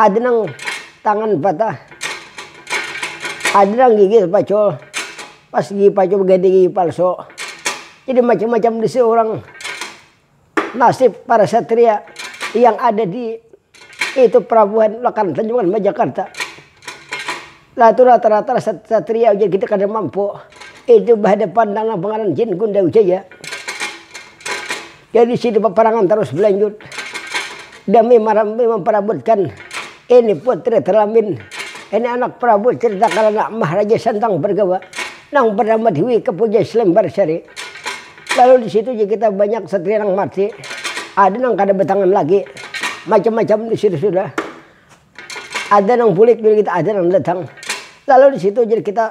Ada nang tangan patah, ada nang gigi tapacul, pas gigi pacul baganti gigi palsu. Jadi macam-macam di sini orang nasib para satria yang ada di itu pelabuhan lekan tanjungan majakarta. Latu rata-rata satria ujar kita kada mampu itu bahadapan nang pangaran jin gundal jaya. Jadi situ paparangan tarus balanjut dami marambi mamparabutkan ini putri teramin, ini anak prabu cerita karana maharaja santang bergawa nang bernama dwi kepuja slembarsari. Lalu disitu ja kita banyak satria nang mati, ada nang kada batangan lagi, macam-macam disitu sudah. Ada nang bulik jadi kita ada nang datang. Lalu disitu jadi kita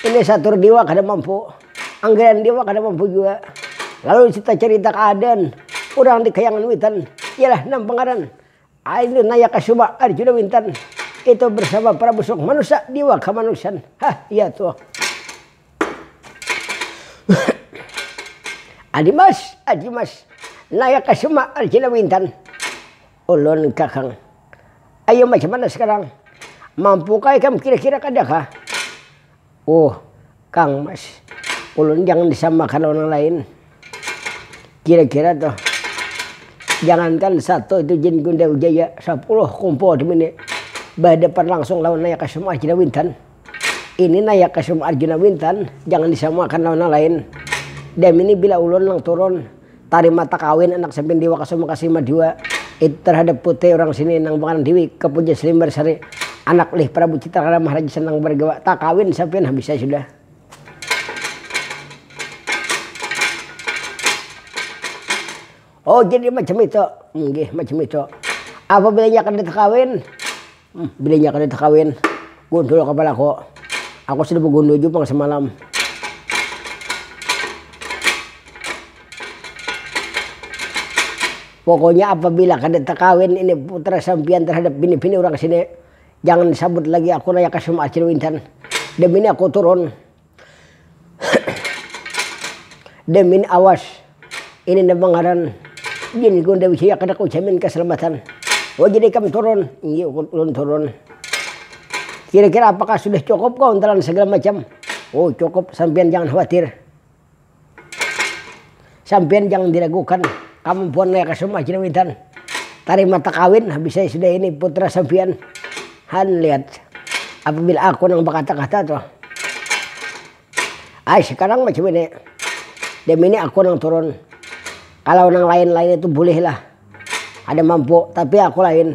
ini satur diwa kada mampu. Anggaian diwa kada mampu jua. Lalu disitu cerita keadaan urang di kayangan witan. Iyalah nang pengaran Ayu naya kasuma arjuna wintan. Itu bersama prabu suk manusa diwa kamanusan. Hah iya tuh. Adimas, adimas naya kasuma arjuna wintan. Ulun kakang. Ayo macam mana sekarang? Mampu kah ikam kira kira kada kah? Uh kang mas ulun jangan disamakan lawan nang lain. Kira kira tuh jangankan satu itu jin gundau jaya, sapuluh kumpul dimini bahadapan langsung lawan naya ka semua jin awintan. Ini nah ya kasum Arjuna Wintan, jangan disamakan lawan nang lain. Damini bila ulun nang turun, tarima takawin anak sampin Dewa Kasuma Kasima jua, itu tarhadap putri urang sini nang bangaran Dewi Kapuja Selimbar Sari, anak lih Prabu Citrakala Maharaja Sanang Bargawa, takawin sampin habisai sudah. Oh jadi macam itu, nggih macam itu. Apabila inya kada takawin, Bininya kada takawin, gundul kapalaku. Aku sudah bagundul jua pang samalam. Pokoknya apabila kada takawin ini putra sampiyan terhadap bini-bini urang sini, jangan disabut lagi aku Raya Kasum Acil Wintan. Damini aku turun. Demin awas, ini nda mangaran jin ku nda wisi akan aku jamin kasalamatan. Wajah ikam turun, inggih ku ulun turun. Kira-kira apakah sudah cukup kau ntalan sagala macam? Oh cukup, sampiyan jangan khawatir. Sampiyan jangan diragukan, kamampuan Naya Kasum Haji Nawitan. Tarima takawin, habis ai sudah ini putra sampiyan. Han lihat, apabila aku nang bakata-kata tuh. Ai sekarang macam ini, dem ini aku nang turun. Kalau nang lain-lain itu bulihlah, kada mampu, tapi aku lain.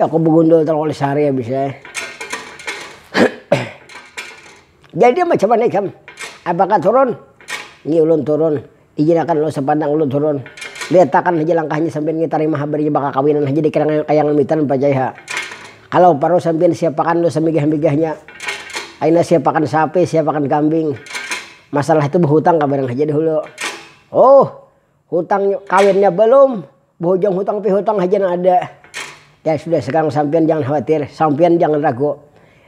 Aku begundul terlalu sehari habis ya. Jadi macam mana ikam? Apakah turun? Ni ulun turun. Ijinakan lo sapandang ulun turun. Lihatakan haja langkahnya sampian ngi tarima habarnya bakakawinan haja di kayangan mitan pacai ha. Kalau paruh sampian siapakan lo samigah-migahnya. Aina siapakan sapi, siapakan kambing. Masalah itu behutang kabarang haja dahulu. Huh. Hutang kawinnya balum, bahujung hutang pi hutang haja nang ada. Ya sudah sekarang sampiyan jangan khawatir, sampiyan jangan ragu.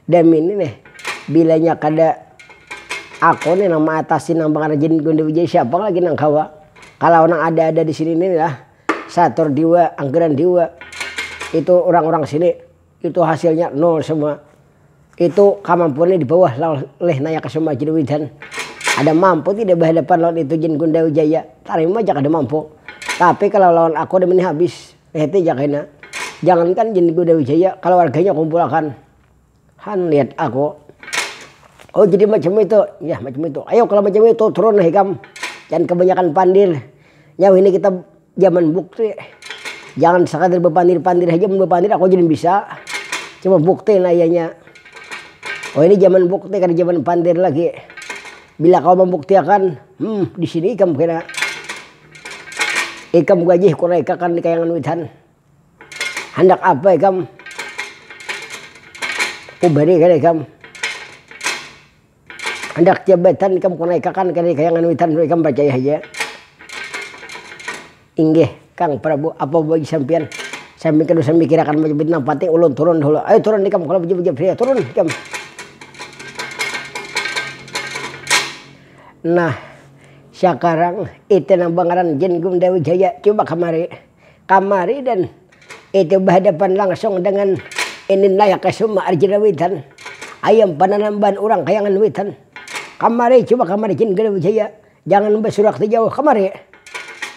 Demi ini nih, bilanya kada aku nih nang maatasi nang pangrajin Gundi Wijaya siapa lagi nang kawa. Kalau nang ada-ada di sini nih lah, Satur Diwa, Anggiran Diwa, itu urang-urang sini Itu hasilnya nol semua. Itu kamampuannya di bawah lawan leh naya kasuma Jin Widan. Kada mampu tidak bahadapan lawan itu Jin Gunda Wijaya. Tarima ja kada mampu. Tapi kalau lawan aku ada mini habis. Hete ja kena. Jangankan Jin Gunda Wijaya, kaluarganya kumpulakan. Han lihat aku. Oh jadi macam itu. Yah macam itu. Ayo kalau macam itu turun ikam. Jangan kebanyakan pandir. Nyau ini kita. Jaman bukti, jangan sakadar bapandir-pandir haja, mun bapandir aku haja nang bisa, cuma bukti nah iyanya. Oh ini jaman bukti kada jaman pandir lagi. Bila kawa mambuktiakan, hmm disini ikam kena. Ikam gajih kurang ikakan di kayangan witan. Handak apa ikam, kubari kena ikam. Handak jabatan ikam ku naikakan kada dikaya nganuitan tu ikam parcaya haja. Inggih kang prabu apa bagi sampiyan sambil kada usah mikirakan bajabatan nang panting ulun turun dahulu ayo turun ikam kalo bajabatan priya turun ikam. Nah sakarang ite nang bangaran jin gumdawijaya cuba kamari. kamari dan itu bahadapan langsung dengan ini naya kasuma arjuna witan ayam pananamban urang kayangan witan kamari coba kamari jin gede wijaya jangan basurak tu jauh kamari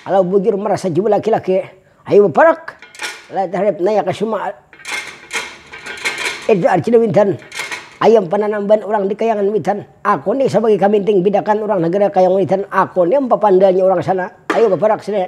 kalau bujur merasa jua laki-laki ayu baparak lataharip naya kasuma itu arjuna witan ayam pananamban urang di kayangan witan aku ni sabagai kaminting bidakan urang nagara kayangan witan aku ni ampapandanya urang sana ayu baparak sini.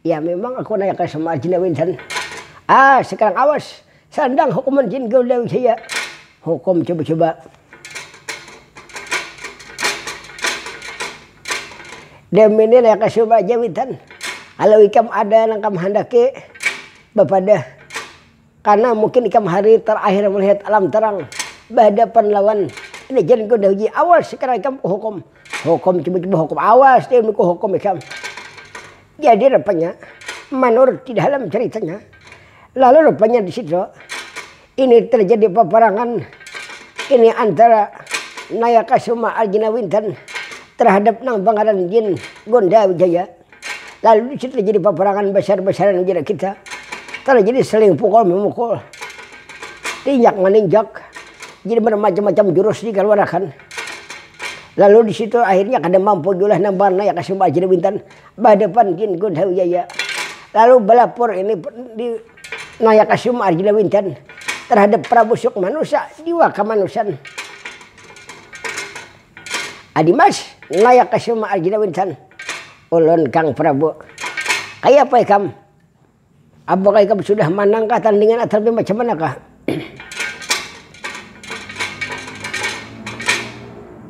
Ya memang aku naya kaya sama jin awi insan. Ah sekarang awas sandang hukuman jin gaul awi saya. Hukum coba coba. Demi ni naya kaya sama aja awi insan. Kalau ikam ada nang kam handaki bapadah. Karna mungkin ikam hari terakhir melihat alam terang bahadapan lawan Legend Kuda Uji. Awas sekarang ikam ku hukum. Hukum tiba-tiba hukum. Awas deh ku hukum ikam. Jadi rupanya manurut di dalam ceritanya lalu rupanya di situ ini terjadi peperangan ini antara Nayakasuma Arjuna Winten terhadap nang pangaran Jin Gonda Wijaya. Lalu di situ terjadi paparangan basar-basaran jera kita. Terjadi saling pukul memukul, tinjak maninjak, jadi bermacam-macam jurus dikaluarakan. Lalu di situ akhirnya kada mampu jua lah nang barnaya ka Sumba Ajin Wintan bahadapan gin Gun Hawi Jaya. Lalu balapor ini di naya ka Sumba Arjuna Wintan terhadap Prabu Sukmanusa, Diwa Kamanusan. Adimas, naya ka suma arjuna winsan, ulun kang prabu. Kayapa ikam? Apakah ikam sudah manang kah tandingan atrapi macam mana kah?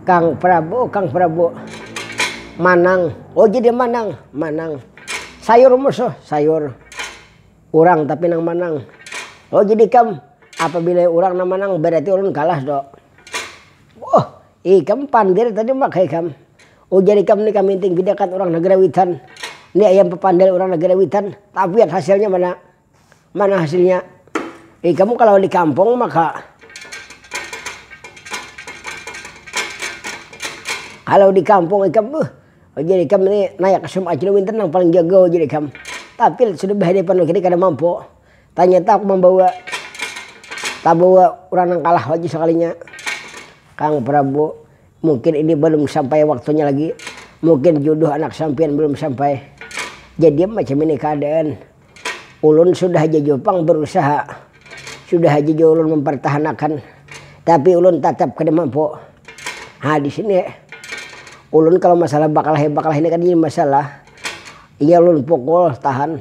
Kang prabu, kang prabu. Manang, oh jadi manang, manang. Sayur musuh, sayur. Urang tapi nang manang. Oh jadi ikam, apabila urang nang manang berarti ulun kalah do. Wuh, ikam pandir tadi Mak hai kam. Ujar ikam ni kaminting pidakan urang nagara witan. Ni ayam papandal urang nagara witan, tapiat hasilnya mana? Mana hasilnya? Ikam kalau di kampung maka kalau di kampung ikam wuh, ujar ikam ni naya kasum acil winten nang paling jago ujar ikam. Tapi sudah bahadapan lagi kada mampu. Tanyata aku mambawa tabawa urang nang kalah lagi sakalinya. Kang Prabu, mungkin ini balum sampai waktunya lagi. Mungkin juduh anak sampiyan balum sampai. Jadi macam ini kaadaan. Ulun sudah haja jua pang barusaha, sudah haja jua ulun mampartahanakan, tapi ulun tatap kada mampu. Ha di sini ulun kalau masalah bakalah-bakalah ini kada jadi masalah. Inya ulun pukul tahan.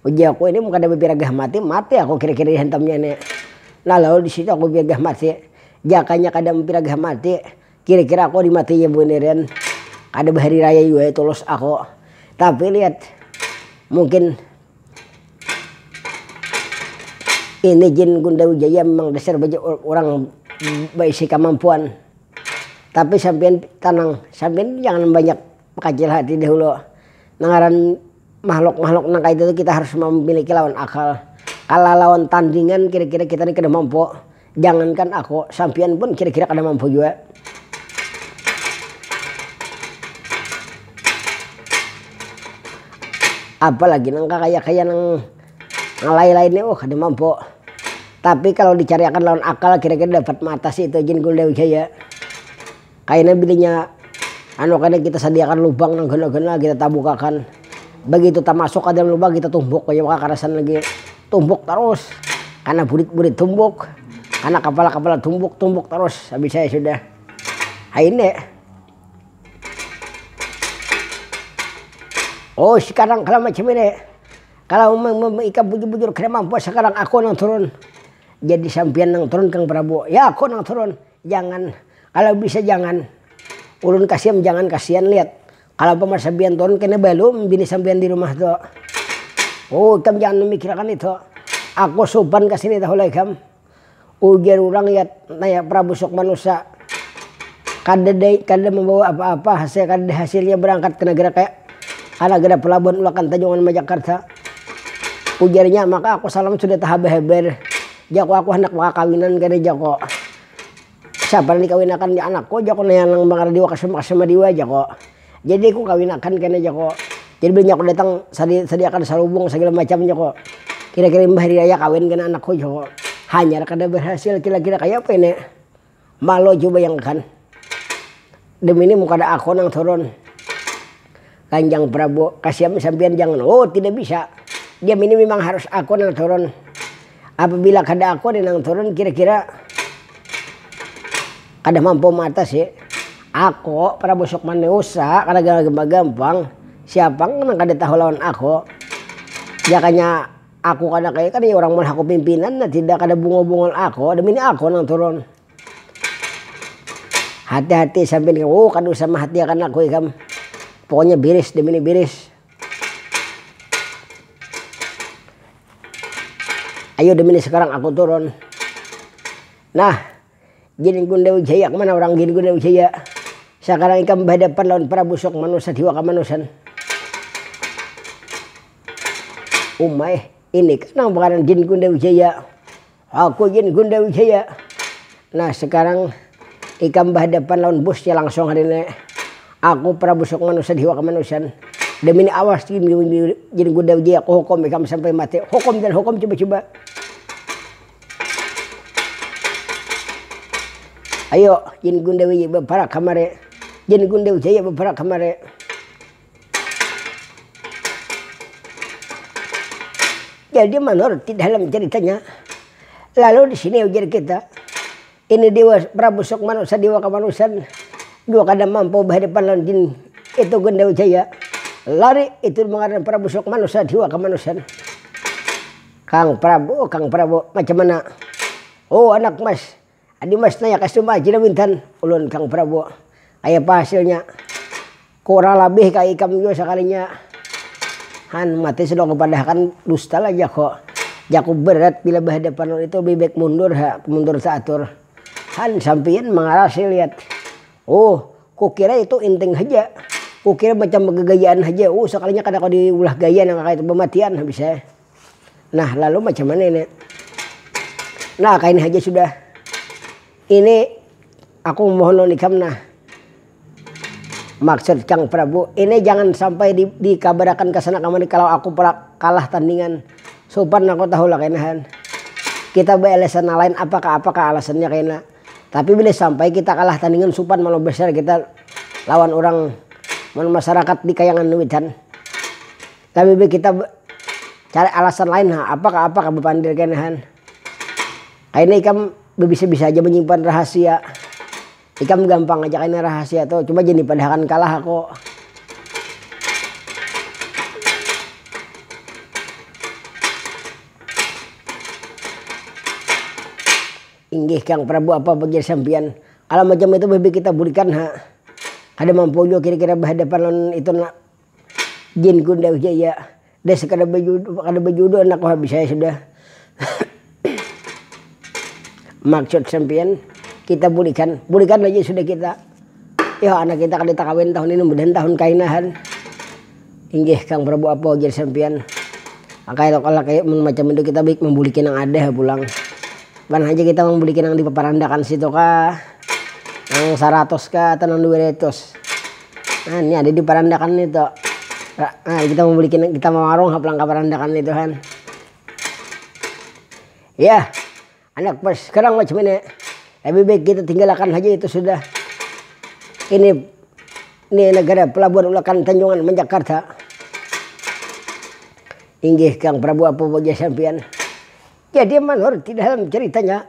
Ujar aku, ini mun kada bapiragah mati, mati aku kira-kira dihantamnya ni. Nah lalu di situ aku bapiragah mati. Jakanya kada mapiragah mati, kira-kira aku di matinya buniran. Kada bahari raya jua ya tulus aku. Tapi lihat, mungkin ini jin gundar wijaya memang dasar baja urang baisi kamampuan. Tapi sampiyan tenang, sampiyan tu jangan banyak. Kacil hati dahulu. Nang ngaran makhluk-makhluk nang kayatu tu kita harus mamiliki lawan akal. Kalah lawan tandingan kira-kira kita ni kada mampu. Jangankan aku, sampiyan pun kira-kira kada mampu jua. Apalagi nang kakaya-kaya nang lain-lain ni uh kada mampu. Tapi kalau dicariakan lawan akal kira-kira dapat maatasi tu Jin Gul Dawijaya. Kaina bilinya anu kada kita sadiakan lubang nang gana-gana kita tabukakan. Bagitu tamasuk ka dalam lubang kita tumbuk aja maka karasan lagi. Tumbuk tarus. Kana burit-burit tumbuk, kana kapala-kapala tumbuk, tumbuk tarus habis ai sudah. Haini. Oh sekarang kalau macam ini, kalau ikam bujur-bujur kada mampu sekarang aku nang turun. Jadi sampiyan nang turun Kang Prabu. Ya aku nang turun. Jangan, kalo bisa jangan. Ulun kasi am jangan kasian liat. Kalo umpama sampiyan turun kena balum bini sampiyan di rumah tu. Ooh ikam jangan memikirakan itu. Aku supan ka sini tahulah ikam. Ujar urang yat naya prabu sukma nusa. Kadada kadada membawa apa-apa hasil kadada hasilnya berangkat ke negara kaya ka negara pelabuhan ulakan tanjungan majakarta. Ujarnya maka aku salam sudah tahaba habar. Jaku, Aku handak bakakawinan kada jako. Siapa nang dikawinakan di anakku jako naya nang mangara diwa kasam kasam adiwa jako. Jadi ku kawinakan kena jako. Jadi bila nyaku datang sadi sadiakan salubung sagala macam jako. Kira kira imbah hari raya kawin kena anakku jako. Hanyar kada berhasil kira kira kaya apa ini. Malo jua bayangkan, demi ni mun kada aku nang turun. Kanjang Prabu, kasiam sampiyan jangan, oh tidak bisa, diam ini mimang harus aku nang turun. Apabila kada aku ni nang turun kira-kira kada mampu maatasi. Aku, Prabu Sukma ni usa, kada gampang, siapa nang kada tahu lawan aku. Jakanya. Aku kada kaya kada iya urang melaku pimpinan nah tidak kada bungol bungol aku ada bini aku nang turun hati hati sampai ni oh kada usah mahatiakan aku ikam pokoknya biris demi ni biris ayo demi ni sekarang aku turun nah Giri Gunda Wijaya kemana orang Giri Gunda Wijaya sakarang ikam bahadapan lawan Prabu Sok Manusa Dewa Kamanusan. Uma eh, inikah nang bagaran Giri Gunda Wijaya. Aku Giri Gunda Wijaya. Nah sakarang ikam bahadapan lawan bosnya langsung hari ini. Aku Prabu Sok Manusa Dewa Kamanusan. Demi ini awas Giri Gunda Wijaya kuhukum ikam sampai mati. Hukum dan hukum cuba-cuba. Ayo jin gundawi baparak kamari jin gundawi jaya baparak kamari. Jadi manurut di dalam ceritanya lalu disini ujar kita Ini Dewa Prabu Sukmana sadiwa kamanusian jua kada mampu bahadapan lawan jin itu gin Dewa Jaya lari itu jua ngaran Prabu Sukmana sadiwa kamanusian. Kang Prabu oh Kang Prabu macam mana oh anak mas adi mas naya ka sumba aji lah wintan ulun Kang Prabu kayapa hasilnya. Kurang labih kaya ikam jua sakalinya han mati sudah kupadahakan dusta lah jako, jaku berat bila bahadapan lawan itu lebih baik mundur ha, mundur taatur han sampiyan mangarasi lihat uh kukira itu inting haja, kukira macam bagagayaan haja uh sakalinya kada kawa diulah gaya nang kaya itu bamatian habis eh. Nah lalu macam mana ini. Nah kaini haja sudah. Ini aku mohon lawan ikam nah. Maksud Kang Prabu, ini jangan sampai di, dikabarakan ka sana kamari kalau aku kalah tandingan. Supan aku tahu lah kaina han. Kita bealasan nang lain apakah apakah alasannya kaina. Tapi bila sampai kita kalah tandingan supan malu besar kita lawan urang mun masyarakat di kayangan witan. Tabibi kita cari alasan lain ha, apakah apakah bapandir kene han. Kaina ikam babisa-bisa haja manyimpan rahasia. Ikam gampang haja kaina rahasia tu, coba jangan dipadahakan kalah aku. Inggih kang prabu apa ujar sampiyan, kalu macam itu bibi kita bulikan ha. Kada mampu jua kira-kira bahadapan lawan itu Jin Kunda Wijaya dah sekadar bajuduh kada bajuduh anakku habis ai sudah. Maksud sampiyan kita bulikan, bulikan haja sudah kita. Yoh anak kita kada takawin tahun ini mudahan tahun kainahan. Inggih Kang Prabu apa ujar sampiyan. Maka elok lah kaya mun macam itu kita baik mambuliki nang ada ha pulang. Bukan haja kita mambuliki nang di paparandakan situ kah, nang saratus kah atau nang dua ratus. Nah ni ada diparandakan ni to nah kita mau beli kita mau warung ha pulang kaparandakan ni tuhan yah anak pers sekarang macam ini lebih baik kita tinggalakan haja itu sudah ini ni negara pelabuhan ulakan tanjungan man jakarta inggih kang prabu apa waja sampiyan jadi manurut di dalam ceritanya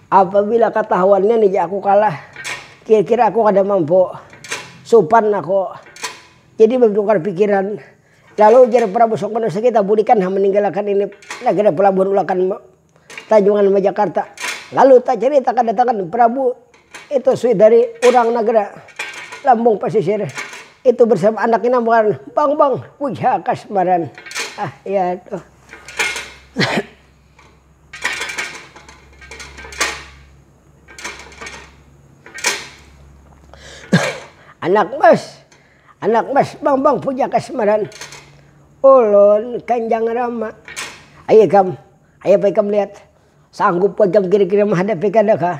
Apabila katahuannya ni ja aku kalah, kira-kira aku kada mampu supan aku. Jadi batukar pikiran, lalu ujar Prabu Sukmana Sakita bulikan ha maninggalakan ini nagara pelabuhan ulakan Tanjungan Majakarta. Lalu tacarita kadatangan Prabu itu sui dari urang nagara Lambung Pasisir itu bersama anak inang bangaran Bangbang Puja Kasmaran. Ah, ya tuh. Anak mas, anak mas bang bang puja kasmaran ulun kanjang rama ayo ikam, ayo apa ikam lihat sanggup kah ikam kira kira menghadapi kada kah.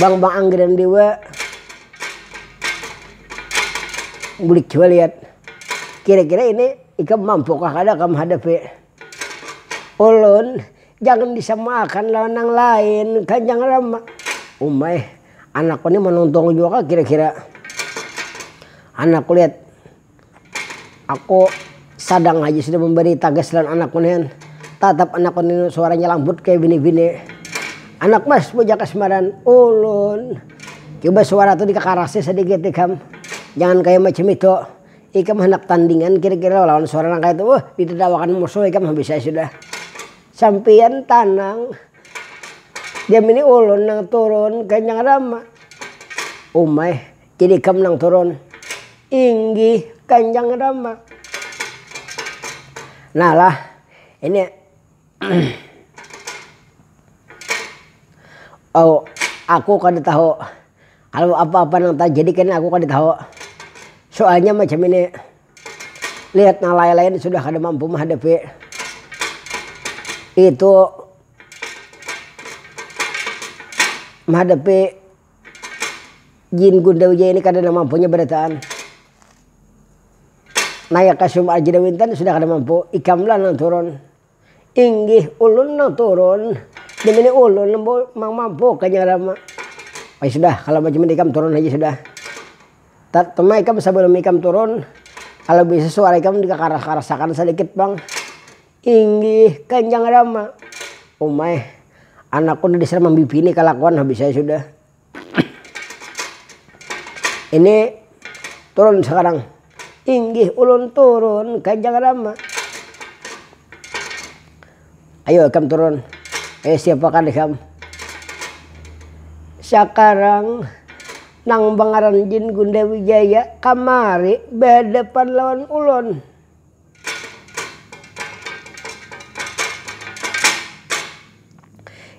Bang bang anggiran dewa bulik jua liat kira kira ini ikam mampu kah kada kam hadapi ulun jangan disamakan lawan nang lain kan jangan lama uma eh anakku ni manuntung jua kah kira kira anakku liat. Aku sadang haja sudah mambari tagas lawan anakku nihan, tatap anakku ninu suaranya lambut kaya bini-bini. Anak mas, bujak kasmaran, ulun. Cuba suara tu dikakarasi sadikit ikam, jangan kaya macam itu. Ikam handak tandingan kira-kira lawan suara nang kaya itu, uh ditadawakan musuh ikam habis ai sudah. Sampiyan tanang, jam ini ulun nang turun, kaya nang ada ma. Umai. Tidikam nang turun. Inggih Kanjang Rama. Nah lah, ini oh, aku kada tahu kalau apa-apa nang terjadi kini aku kada tahu. Soalnya macam ini, lihat nang lain-lain sudah kada mampu menghadapi. Itu menghadapi Jin Gunda Wijaya ini kada namampu nya barataan. Naya ka Sum Arjuna Winten sudah kada mampu, ikam lah nang turun. Inggih ulun nang turun, demi ini ulun nang mampu Kanjeng Rama. Oh ya sudah kalo macam ini ikam turun haja sudah. Cuma ikam sabalum ikam turun, kalo bisa suara ikam dikakaras-karasakan sadikit pang. Inggih Kanjang Rama. Umai, anakku nda disera mambibini kalakuan habis ai sudah. Ini turun sakarang. Inggih ulun turun Kanjang Rama. Ayo ikam turun. Eh siapakan ikam. Sakarang nang bangaran Jin Gunda Wijaya kamari bahadapan lawan ulun.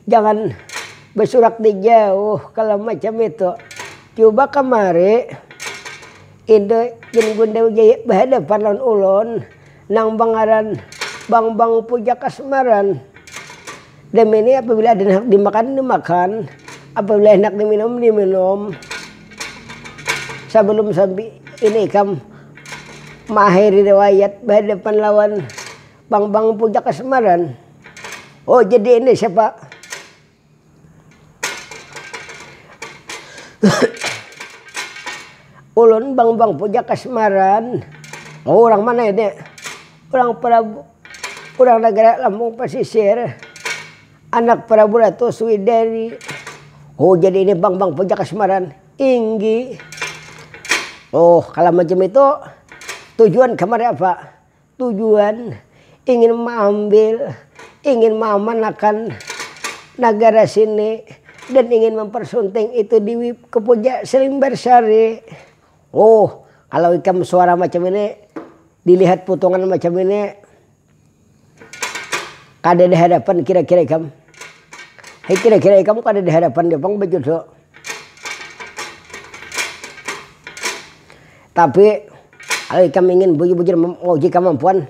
Jangan basurak di jauh kalau macam itu. Cuba kamari Ida Jin Gundil Jaya bahadapan lawan ulun nang bangaran Bang Bang Puja Kasmaran. Demi ni apabila ada nang handak dimakan dimakan, apabila handak diminum diminum. Sabalum sampi ini ikam maakhiri riwayat bahadapan lawan pang-pang puncak kasmaran. Oh jadi ini siapa ulun pang-pang puncak kasmaran, oh urang mana ini urang prabu. Urang nagara Lampung Pasisir, anak Prabu Ratu Swideri, oh jadi ini bang bang puja kasmaran inggi. Oh kala macam itu tujuan kamari apa, tujuan ingin maambil, ingin maamanakan nagara sini dan ingin mempersunting itu di Puja Srimbarsari. Ooh kalau ikam suara macam ini dilihat putungan macam ini kada ada harapan kira kira ikam. Hai kira kira ikam kada ada harapan ja pang bajodoh. Tapi kalau ikam ingin bujur bujur mauji kamampuan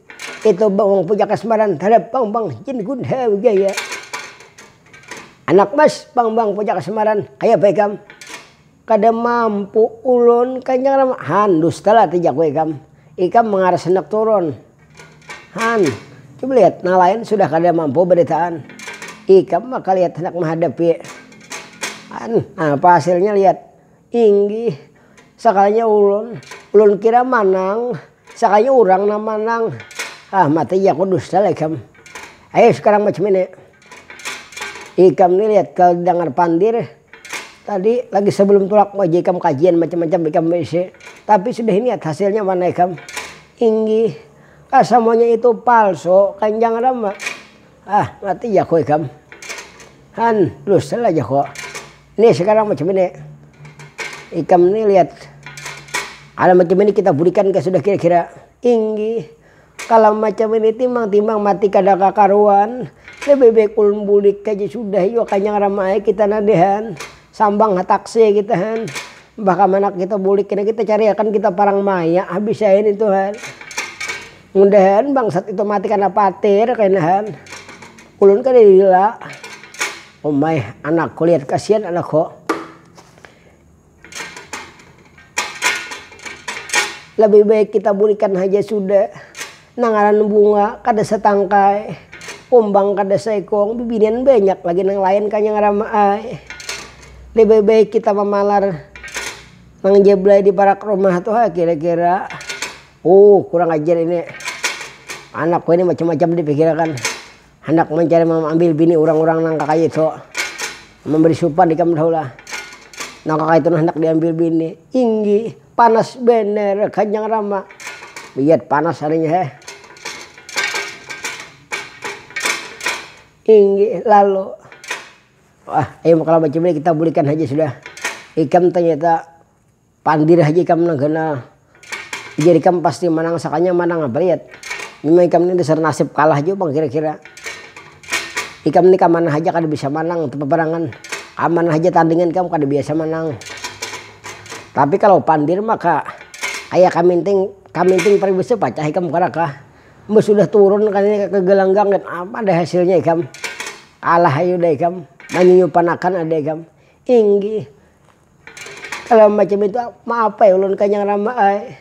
Itu bang wong puja kasmaran tarap bang bang jin gundha wijaya anak mas bang bang puja kasmaran kaya bae kam kada mampu ulun kanjang rama han dustalah ti jaku ikam ikam mangaras handak turun han coba lihat nang lain sudah kada mampu baritaan ikam maka lihat handak mahadapi han apa hasilnya lihat. Inggih, sakalinya ulun. Ulun kira manang, sakalinya urang nang manang. Hah, mata iyaku dusta lah ikam. Ayo sekarang macam ini. Ikam ni lihat ka dangar pandir, tadi lagi sebelum tulak mau aja ikam kajian macam-macam ikam beisi. Tapi sudah ini lihat hasilnya mana ikam. Inggih, ka samuanya itu palsu, kanjang rama. Hah, mata iyaku ikam. Han, dusta lah jaku. Nih sekarang macam ini, ikam nih lihat kalau macam ini kita burikan ke sudah kira-kira inggi. Kalau macam ini timbang-timbang mati kada kakaruan, lebih baik ulun bulik aja sudah jua kanyang rama ai kita nah dihan, sambang ha taksi kita han, mbah kamanak kita bulik kena kita cariakan kita parang maya habis ai nitu han, mudahan bangsat itu mati kada patir kena han, ulun kada lila. Umai anak kulit kasian anak ko. Lebih baik kita burikan haja sudah. Nang ngaran bunga kada satangkai. Kumbang kada saikung. Bibinian banyak lagi nang lain kanya ngarama ai. Lebih baik kita mamalar nang jablay di parak rumah tu ha kira kira. Uuh kurang ajar ini. Anak ko ini macam macam di pikirakan. Handak mancari mamambil bini urang-urang nang kakayitu. Mambari supan ikam tahu lah. Nang kakayitu nah handak diambil bini. Inggi, panas banar kanjang rama. Biyat panas harinya he. Inggi, lalu. Wah, ayu makalah bacibir kita bulikan haja sudah. Ikam tanyata. Pandir haja ikam nang ganal. Ujar ikam pasti manang sakanya manang apa lihat. Memang ikam ni dasar nasib kalah jua pang kira-kira. Ikam ni kamanah haja kada bisa manang tu paparangan. Kamanah haja tandingan ikam kada biasa manang. Tapi kalau pandir maka kaya kaminting, kaminting paribasnya pacah ikam kada kah. Mbah sudah turun kayanya ke gelanggang gin apa ada hasilnya ikam. Kalah haja udah ikam, manyuyupanakan ada ikam. Inggih Kalau macam itu maaf ai ulun kanyang rama ai.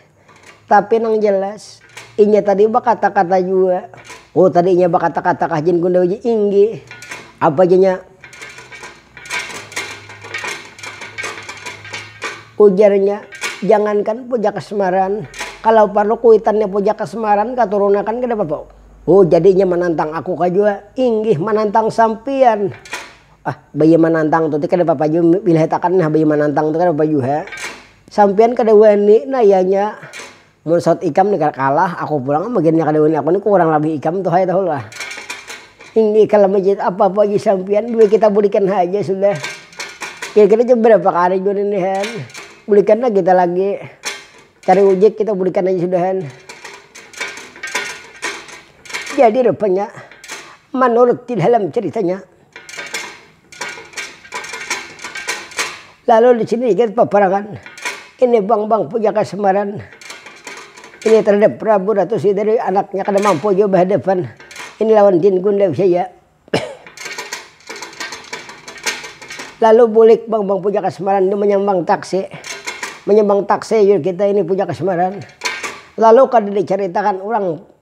Tapi nang jelas inya tadi bakata-kata jua. Oh tadi inya bakata-kata kah jin gundau ji? Inggih. Apa jar inya ujarnya jangankan puja kasmaran kalau parlu kuitannya puja kasmaran katurunakan kadapapa. Oh jadi inya manantang aku kah jua? Inggih manantang sampian. Ah, baya manantang tuti kada papa jua milihatakan nah baya manantang tu kada papa jua. Sampiyan kada wani nayanya mun saut ikam ni kada kalah aku pulang am agennya kada wani aku ni kurang labih ikam tu hai tahu lah. Ini kalo majiat apa apa lagi sampiyan dua kita bulikan haja sudah. Kira kira jua berapa kali jua ini han, bulikan lah kita lagi cari ujek kita bulikan aja sudah han. Jadi rupanya manurut di dalam ceritanya. Lalu di sini ikit paparangan, ini bang bang puja kasamaran, ini terhadap prabu ratu sideri anaknya kada mampu jua bahadapan, ini lawan jin gundal saja. Lalu bulik bang bang puja kasamaran ini manyambang taksi, manyambang taksi jua kita ini puja kasamaran, lalu kada dicaritakan urang.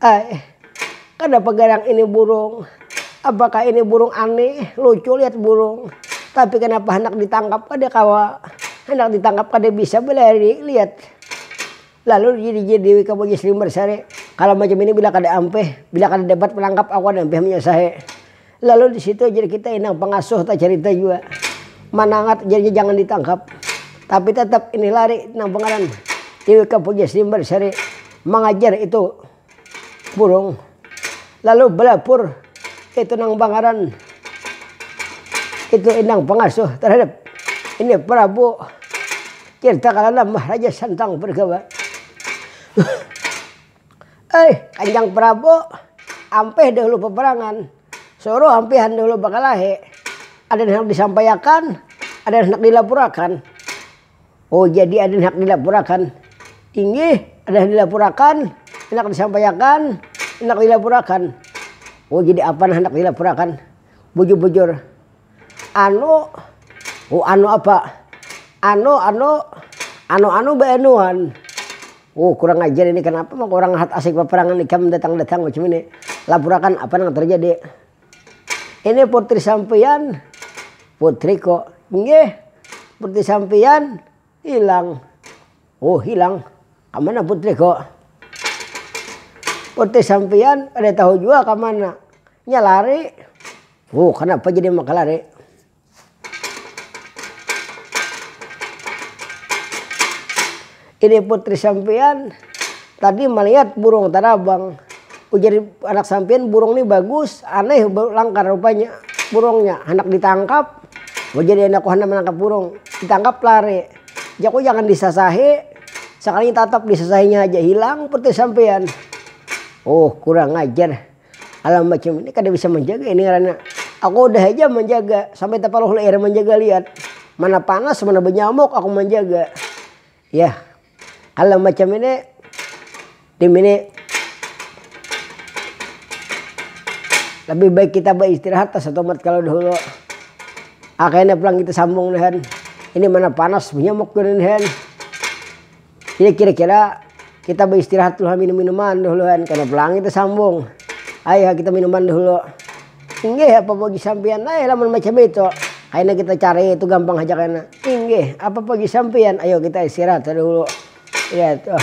Ai, kadapa garang ini burung? Apakah ini burung aneh? Lucu lihat burung. Tapi kanapa handak ditangkap kada kawa? Handak ditangkap kada bisa balari lihat. Lalu dijijir Dewi ka Bujis Limber sare, Kalo macam ini bila kada ampih, bila kada dapat manangkap aku kada ampih manyusahi. Lalu di situ jar kita inang pangasuh tacarita jua manangat jarnya jangan ditangkap tapi tatap ini lari nang pangaran Tiwika Pujasimbar Sari mangajar itu burung lalu balapur itu nang pangaran itu inang pangasuh tarhadap ini prabu Tirtakalana Maharaja Santang Bergawa. Ai, Kanjang Prabu, ampih dahulu peperangan. Suruh ampihan dahulu bakalahi. Ada nang handak disampaiakan, ada nang handak dilapurakan. Oh, jadi ada nang handak dilapurakan. Inggih, ada nang dilapurakan, handak disampaiakan, handak dilapurakan. Oh, jadi apa nang handak dilapurakan? Bujur-bujur. Anu, oh anu apa, anu anu, anu anu baanuan, oh kurang ajar ini kanapa maka urang hat asik paparangan ikam datang datang macam ini, lapurakan apa nang tarjadi, ini putri sampiyan, putriku, nggih putri sampiyan hilang, oh hilang kamana putriku, putri sampiyan kada tahu jua kamana, nya lari. Wuh kanapa jadi makalar e. Ini putri sampiyan tadi malihat burung tarabang. Ujar anak sampiyan burung ni bagus, aneh langkar rupanya burungnya. Handak ditangkap, ujar anak ku handak manangkap burung. Ditangkap lari. Jar ku jangan disasahi, sakalinya tatap disasahinya haja hilang putri sampiyan. Wuh kurang ajar. Hal-hal macam ini kada bisa manjaga ini ngarannya aku udah haja manjaga sampai tapaluh leer manjaga lihat mana panas mana banyamuk aku manjaga yah hal-hal macam ini tim ini lebih baik kita baistirahat ta satumat kalo dahulu ha kena pulang kita sambung nih han ini mana panas banyamuk ini han. Ini kira-kira kita baistirahat dulu ha minum minuman dahulu han kena pulang kita sambung ai ha kita minuman dahulu inggih apa bagi sampiyan ai lamun macam itu kaina kita cari itu gampang haja kaina inggih apa bagi sampiyan ayo kita istirahat ha dahulu ya tuh.